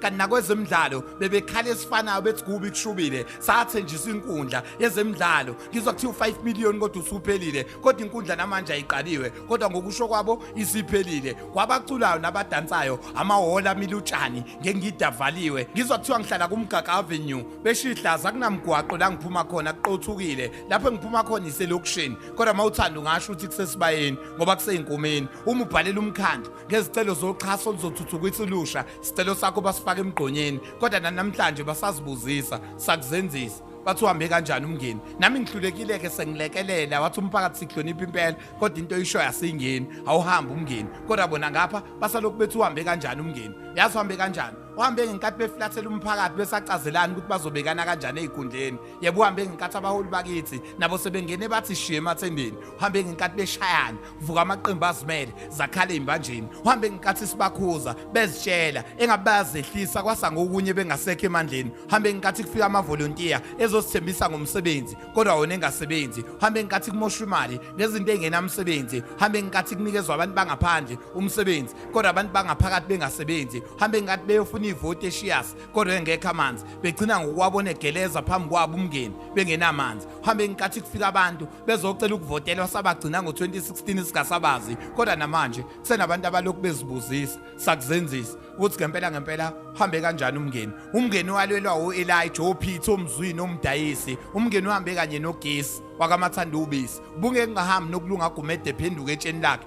kanti nakwezemidlalo bebekhala esifanayo bethi kubi kushubile sathenjiswa inkundla yezemidlalo ngizwa kuthiwa u-5 million kodwa usuphelile kodwa inkundla namanje ayiqaliwe kodwa ngokusho kwabo isiphelile kwabaculayo nabadansayo amahholo amile utshani ngengida avaliwe ngizwa kuthiwa ngihlala kumgaga avenue besho ihlaza kunamgwaqo la ngiphuma khona kuqothukile lapho engiphuma khona iselokishini kodwa uma uthanda ungasho ukuthi kusesibayeni ngoba kuseyinkomeni uma ubhalela umkhandlu ngezicelo zoxhaso oluzothuthukisa ulusha sicelo sakho basifaka emgqonyeni kodwa nanamhlanje basazibuzisa sakuzenzisa bathi uhambe kanjani umngeni nami ngihlulekile-ke sengilekelela wathi umphakathi sihlonipha impela kodwa into oyishoyo asiyingeni awuhambe umngeni kodwa bona ngapha basalokhu bethi uhambe kanjani umngeni yazi uhambe kanjani uhambe ngenkathi beflathela umphakathi besacazelani ukuthi bazobekana kanjani ey'kundleni yebo uhambe ngenkathi abaholi bakithi nabo sebengene bathi shiye emathembeni uhambe ngenkathi beshayana vuka amaqembu azimele zakhala imbanjeni uhambe ngenkathi sibakhuza bezitshela engabe bayazehlisa kwasa ngokunye bengasekho emandleni uhambe ngenkathi kufika amavolontiya ezosithembisa ngomsebenzi kodwa wona engasebenzi uhambe ngenkathi kumoshwa imali ngezinto engenamsebenzi uhambe ngenkathi kunikezwa abantu bangaphandle umsebenzi kodwa abantu bangaphakathi bengasebenzi uhambe ngenkathi beyofuna ivoti eshiyas kodwa engekho amanzi begcina ngokuwabona egeleza phambi kwabo umngeni bengenamanzi uhambe ngenkathi kufika abantu bezocela ukuvotelwa sabagcina ngo-2016 singasabazi kodwa namanje kusenabantu abalokhu bezibuzisa sakuzenzisa ukuthi ngempela ngempela uhambe kanjani umngeni umngeni walwelwa u-elija ophitha omzwini omdayisi umngeni uhambe kanye nogesi wakamathanda ubisi ubungeke ngahambi nokulunga agumede ephenduka etsheni lakhe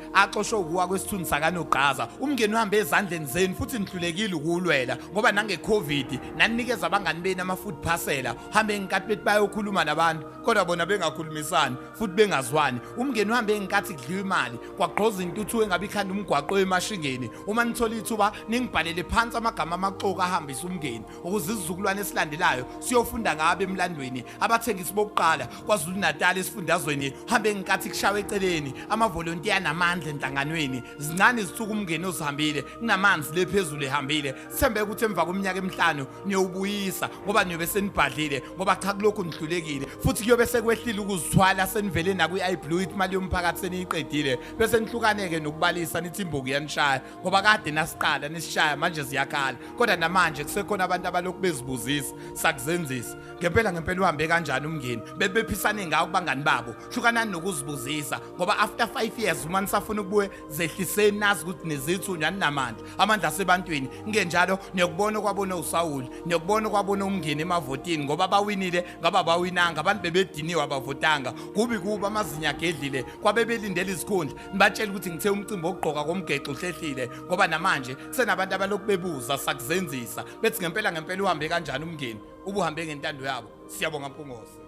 axoshwe ukuwa kwesithunzi sakanogqaza umngeni uhambe ezandleni zenu futhi nihlulekile ukuwulwela ngoba nangecovid naninikeza abangani benu ama-food parcela uhambe ngenkathi bethi bayokhuluma nabantu kodwa bona bengakhulumisani futhi bengazwani umngeni uhambe ngenkathi kudliwa imali kwagqoza intuthu engabe ikhanda umgwaqo emashingeni uma nithola ithuba ningibhalele phansi amagama amaxoka ahambisa umngeni ukuze isizukulwane esilandelayo siyofunda ngabo emlandweni abathengisi bokuqala KwaZulu-Natal esifundazweni hambe ngenkathi kushawe eceleni amavolontiya namandla enhlanganweni zincane izithuku umngeni osihambile kunamanzi le phezulu ehambile sithembe ukuthi emva kweminyaka emihlanu niyowubuyisa ngoba niyobe senibhadlile ngoba cha kulokhu nihlulekile futhi kuyobe sekwehlile ukuzithwala senivele nakwi-iblue ithi imali yomphakathi seniyiqedile bese nihlukaneke nokubalisa nithi imbuku yanishaya ngoba kade nasiqala nisishaya manje ziyakhala kodwa namanje kusekhona abantu abalokhu bezibuzisa sakuzenzisa ngempela ngempela uhambe kanjani umngeni bebephisane ngawo kubangani babo hlukanani nokuzibuzisa ngoba after 5 years uma nisafuna ukubuye zehliseni nazi ukuthi nezithu nyani namandla amandla asebantwini ngenjalo niyokubona kwabona uSawuli niyokubona kwabona umngeni emavotini ngoba bawinile ngaba bawinanga abantu bebediniwe abavotanga kubi kuba amazinya agedlile kwabebelindela izikhundla nibatshela ukuthi ngithe umcimbi wokugqoka komgexo uhlehlile ngoba namanje kusenabantu abalokhu bebuza sakuzenzisa bethi ngempela ngempela uhambe kanjani umngeni ubuhambe ngentando yabo siyabonga mpungose